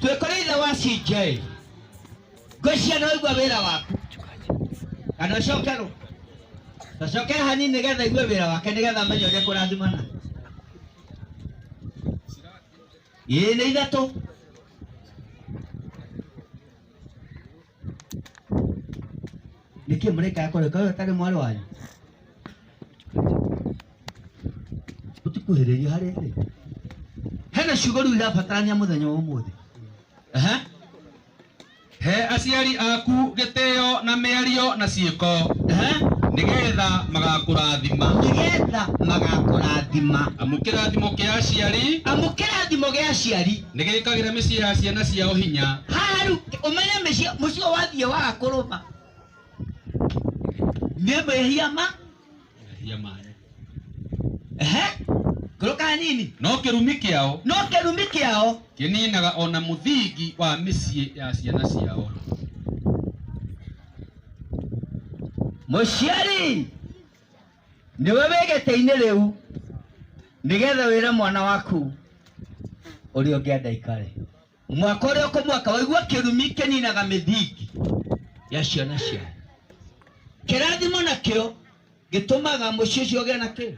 twĩkore ithe wa CJ ngwĩcia nĩ waigua wĩra waku kana ũcokerwo ũcokere hanini nĩgetha igue wĩra wake nĩgetha amenye ũrĩa kũrathimana ĩĩ nĩ ithatũ Nĩkĩ mũrĩkaga kũrĩ kũrĩ ũtarĩ mwarĩ wanyu? Ũtikuhĩrĩria harĩ rĩ? Hena ciugo rĩu irabatarania mũthenya wa ũmũthĩ. Ehe. He aciari aku gĩtĩo na mĩario na ciĩko Ehe. nĩgetha magakũrathima. Nĩgetha magakũrathima. Amu kĩrathimo kĩa aciari Amu kĩrathimo gĩa aciari nĩ gĩkagĩra mĩciĩ ya ciana ciao hinya haha rĩu ũmenye mĩciĩ mũciĩ ũyũ wathiĩ waga kũrũma nĩ mehia ma mehia manyu ehe ngũrũka hanini no kĩrumi kĩao no kĩrumi kĩao kĩninaga ona mũthingi wa mĩciĩ ya ciana ciao mũciari nĩwe wĩ gĩtĩ-inĩ rĩu nĩgetha wĩre mwana waku ũrĩa ũngĩ andaikare mwaka ũrĩa ũkũmwaka waigua kĩrumi kĩninaga mĩthingi ya ciana ciao kĩrathimo nakĩo gĩtũmaga mũciĩ ũcio ũgĩa na kĩ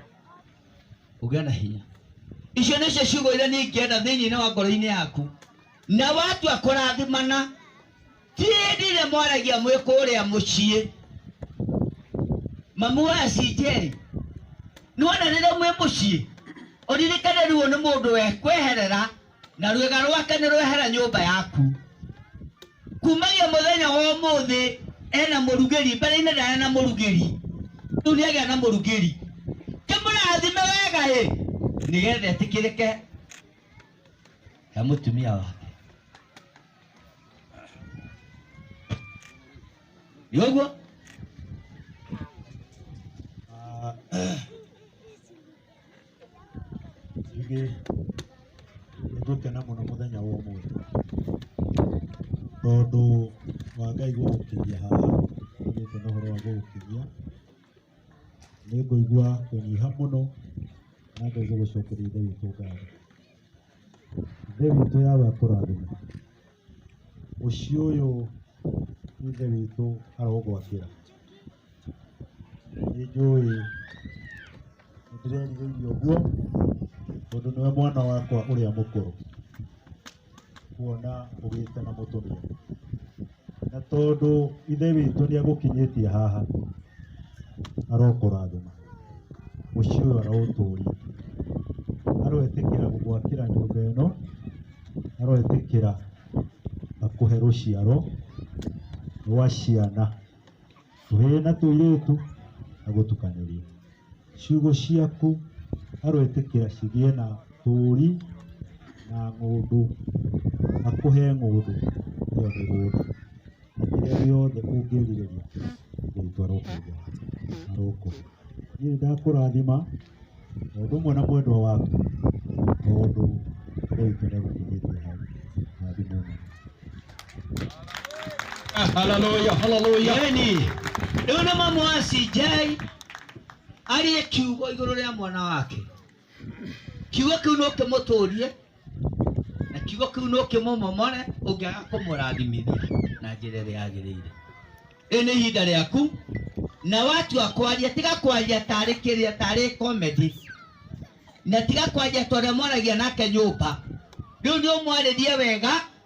ũgĩa na hinya icio nĩcio ciugo iria niĩ ingĩenda thĩinĩ wa ngoro-inĩ yaku na watua kũrathimana Ti hĩndĩ ĩrĩa mwaragia mwĩ kũrĩa mũciĩ. Mamu wa CJ, nĩwona rĩrĩa mwĩ mũciĩ, ũririkane ruo nĩ mũndũ wekweherera na rwĩga rwake nĩrwehera nyũmba yaku. Kumagia mũthenya wa ũmũthĩ ena mũrugĩri, mbere-inĩ ndarĩ na mũrugĩri, rĩu nĩagĩa na mũrugĩri. Kĩmũrathime wega-ĩ, nĩgetha etĩkĩrĩke he mũtumia wake. Yoguo rĩngĩ nĩngũkena mũno mũthenya wa ũmũthĩ tondũ wa Ngai gũgũkinyia haha nĩgĩte na ũhoro wa gũgũkinyia nĩngũigua kũnyiha mũno na ngaigua gũcokeria Ngai ũtũngatho. Ithe witũ Yahweh akũrathime. Mũciĩ ũyũ Ithe witũ arogwakĩra. Nĩ njũĩ nĩ ndĩrerirĩirie ũguo tondũ nĩwe mwana wakwa ũrĩa mũkũrũ kuona ũgĩte na mũtumia. na tondũ ithe witũ nĩ agũkinyĩtie haha arokũrathima mũciĩ ũyũ araũtũria aroetĩkĩra gũgwakĩra nyũmba ĩno aroetĩkĩra akũhe rũciaro rwa ciana tũhĩĩ na tũirĩtu na gũtukanĩria ciugo ciaku aroĩtĩkĩra cigĩe na tũũri na ng'ũndũ akũhe ng'ũndũ ĩyo mĩgũnda na kĩrĩa gĩothe ũngĩrirĩria rĩtwa rĩaku rĩrokuo niĩ nĩndakũrathima o ũndũ ũmwe na mwendwa waku tondũ Ngai witũ nĩ agũkinyĩtie hau na thimũ nene. Haleluya, haleluya. Yeni. Rĩu nĩ mamu wa CJ ariĩ kiugo igũrũ rĩa mwana wake. Kiugo kĩu no kĩmũtũrie na kiugo kĩu no kĩmũmomore ũngĩaga kũmũrathimithia na njĩra ĩrĩa yagĩrĩire rĩu nĩ ihinda rĩaku na watua kwaria tiga kwaria tarĩ kĩrĩa tarĩ comedy na tiga kwaria tondũ mwaragia nake nyũmba rĩu nĩ ũmwarĩrie wega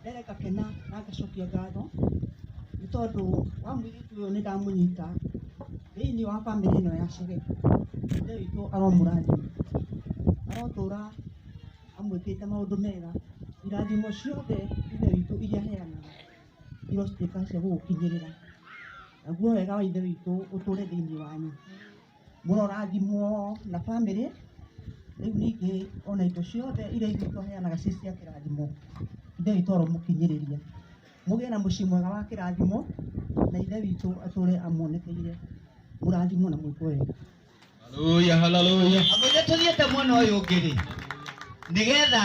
mbere ngakena na ngacokia ngatho nĩ tondũ wa mũirĩtu ũyũ nĩ ndamũnyita thĩinĩ wa bamĩrĩ ĩno ya Shegesh. Ithe witũ aromũrathima, arotũra amwĩkĩte maũndũ mega. Irathimo ciothe Ithe witũ iria aheanaga irotuĩka cia gũgũkinyĩrĩra. Naguo wega wa Ithe witũ ũtũre thĩinĩ wanyu. mũrorathimwo na bamĩrĩ, rĩu ningĩ ona indo ciothe iria ithuĩ tũheanaga ciĩ cia kĩrathimo, Ithe witũ aromũkinyĩrĩria. Mũgĩe na mũciĩ mwega wa kĩrathimo, na Ithe witũ atũre amuonekeire, mũrathimwo na mwĩkwo wega. Haleluya, haleluya. Andũ aingĩ tũthiĩte mwena ũyũ ũngĩ-rĩ, nĩgetha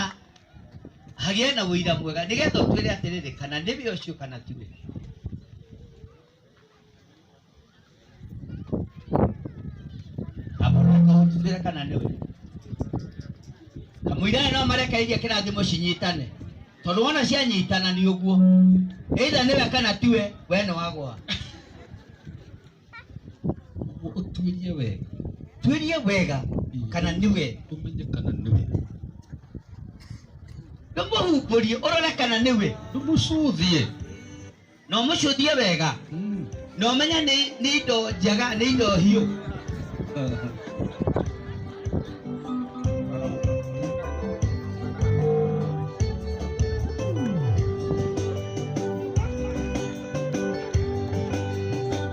hagĩe na ũira mwega, nĩgetha ũtwĩre atĩrĩrĩ, kana nĩwe ũcio kana tiwe. amũrũka ũtubĩre kana nĩ we kamũira ĩno marekeirie kĩrathimo cinyitane tondũ wona cianyitana nĩ ũguo either nĩwe kana tiwe we nĩ wagwa Ũguo ũtuĩrie wega tuĩrie wega kana nĩwe ũmenye kana nĩ we ndũmũhumbũrie ũrore kana nĩwe ndũmũcũthie no mũcũthie wega no menya nĩ nĩ indo njega nĩ indo hiũ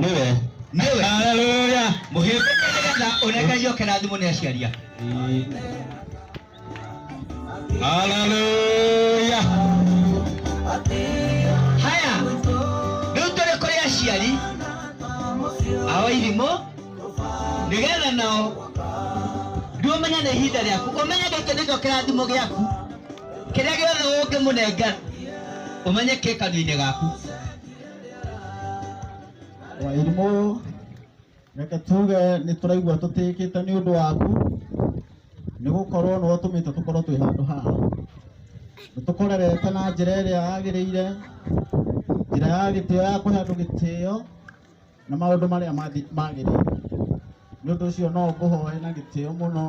nĩwe nĩwe haleluya mũhĩmbĩke nĩgetha ũnekerie oke na thimũ nĩ aciari ake haleluya haya rĩu tũrĩ kũrĩ aciari ao irimũ nĩgetha nao rĩu ũmenye nĩ ihinda rĩaku ũmenye gĩkĩ nĩkĩo kĩrathimo gĩaku kĩrĩa gĩothe ũngĩmũnengera ũmenye kĩ kanua-inĩ gaku Wairimũ, reke tuge nĩ tũraigua tũtĩkĩte nĩ ũndũ waku, nĩ gũkorwo nĩ watũmĩte tũkorwo twĩ handũ haha. Nĩ tũkũrerete na njĩra ĩrĩa yagĩrĩire, njĩra ya gĩtĩo ya kũhe andũ gĩtĩo na maũndũ marĩa mathi- magĩrĩire. Nĩ ũndũ ũcio no ngũhoe na gĩtĩo mũno,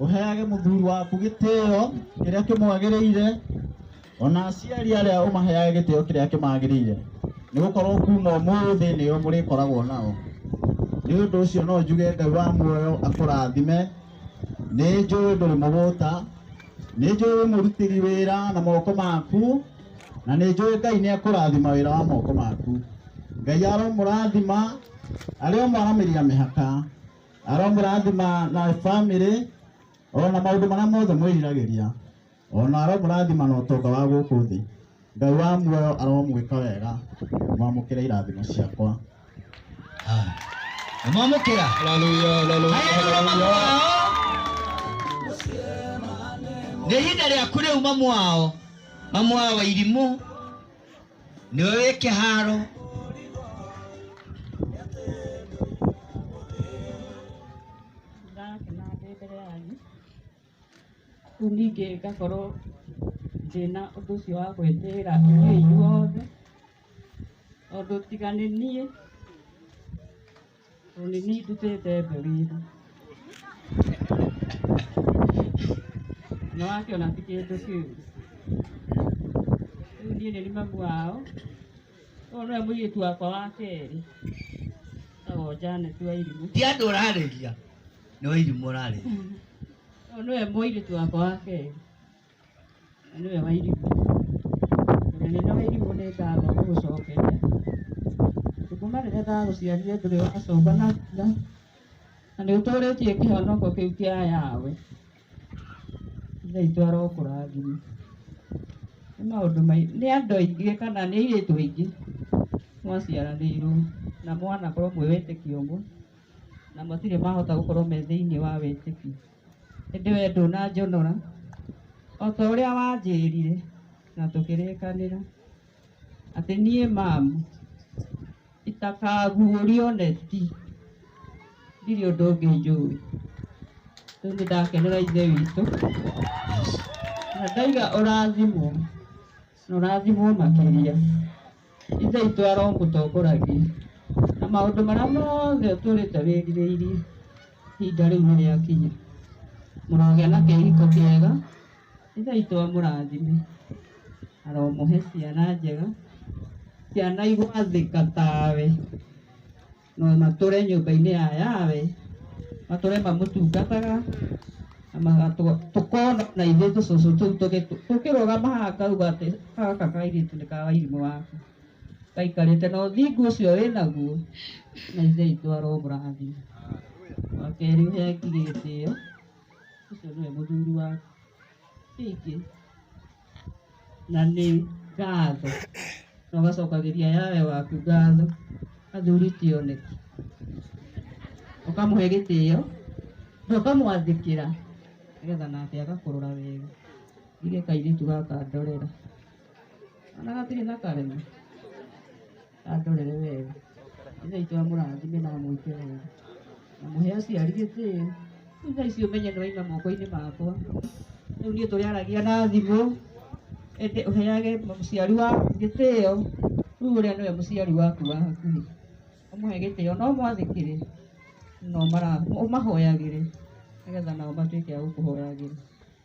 ũheage mũthuri waku gĩtĩo kĩrĩa kĩmwagĩrĩire ona aciari arĩa ũmaheaga gĩtĩo kĩrĩa kĩmagĩrĩire nĩ gũkorwo kuma ũmũthĩ nĩo mũrĩkoragwo nao nĩ ũndũ ũcio no njuge ngai wa muoyo akũrathime nĩ njũĩ ndũrĩ mũgũta nĩ njũĩ wĩ mũrutĩri wĩra na moko maku na nĩ njũĩ ngai nĩ akũrathima wĩra wa moko maku ngai aromũrathima arĩa maramĩria mĩhaka aromũrathima na bamĩrĩ ona maũndũ marĩa mothe mwĩriragĩria O na aromũrathima na ũtonga wa gũkũ thĩ. Ngai wa muoyo aromwĩka wega. Mwamũkĩre irathimo ciakwa. Mwamũkĩra. Haleluya, haleluya, Haya nĩ ũrĩa mamu haleluya. wao. Nĩ ihinda rĩaku rĩu mamu wao. Mamu wao wa irimũ. Nĩwe wĩ kĩharo. Ndakena ndĩ mbere yanyu. Rĩu ningĩ ngakorwo ndĩna ũndũ ũcio wa gwĩtĩĩra inyuĩ inyuothe, tondũ tiga nĩ niĩ, tondũ nĩ niĩ ndutĩte mbeu ĩno. Nĩ wakĩona ti kĩndũ kĩũru. Rĩu niĩ nĩniĩ mamu wao, ũyũ nĩwe mũirĩtu wakwa wa kerĩ, etagwo Janet Wairimu. Ti andũ ũrarĩria. nĩ wa irimũ ũrarĩ Ũyũ nĩwe mũirĩtu wakwa wa kerĩ na nĩwe wa irimũ ũrĩa nene wa irimũ nĩ ngatho ngũgũcokeria kuma rĩrĩa ndagũciarire ndũrĩ wacomba na mbura na nĩ ũtũrĩtie kĩhonoko kĩu kĩa yawe ithe itũ arokũrathima nĩ maũndũ mai- nĩ andũ aingĩ kana nĩ airĩtu aingĩ mwaciaranĩirwo na mwanakorwo mwĩ wĩtĩkio ũmwe na matirĩ mahota gũkorwo me thĩinĩ wa wĩtĩkio. Ĩndĩ wee ndũnanjonora, o ta ũrĩa wanjĩrire na tũkĩrĩkanĩra, atĩ niĩ mamu itakaguũrio neti, ndirĩ ũndũ ũngĩ njũĩ. Rĩu nĩ ndakenera Ithe witũ, na ndaiga ũrathimwo. Nũrathimwo makĩria. Ithe witũ aromũtongoragia. Na maũndũ marĩa mothe ũtũrĩte wĩrirĩirie, ihinda rĩu nĩ rĩakinya. Mũrogĩa na kĩhiko kĩega. Ithe witũ amũrathime. Aromũhe ciana njega, ciana igwathĩka tawe. na matũre nyũmba-inĩ ya yawe matũre mamũtungataga na magatũ- tũkona na ithuĩ tũcũcũ tũu tũgĩ- tũkĩrũgama haha ngauga atĩ gaka kairĩtu nĩ ka wairimũ waku gaikarĩte na ũthingu ũcio wĩ naguo na ithe itũ aromũrathima wa kerĩ ũheangi gĩtĩo ũcio nĩwe mũthuri waku Ningĩ na nĩ ngatho na ũgacokagĩria yawe waku ngatho athuri ti oneki ũkamũhe gĩtĩo na ũkamwathĩkĩra nĩgetha nake agakũrora wega njuge kairĩtu gaka ndorera kana gatirĩ na karema andorere wega ithe itũ amũrathime na amwĩke wega na mũhe aciari gĩtĩo rĩu thaa ici ũmenye nĩ waima moko-inĩ makwa rĩu niĩ tũrĩaragia na thimũ ĩndĩ ũheage mũciari waku gĩtĩo rĩu ũrĩa nĩwe mũciari waku wa hakuhĩ ũmũhe gĩtĩo na ũmwathĩkĩre na ũmara- ũmahoyagĩre nĩgetha nao matuĩke a gũkũhoyagĩra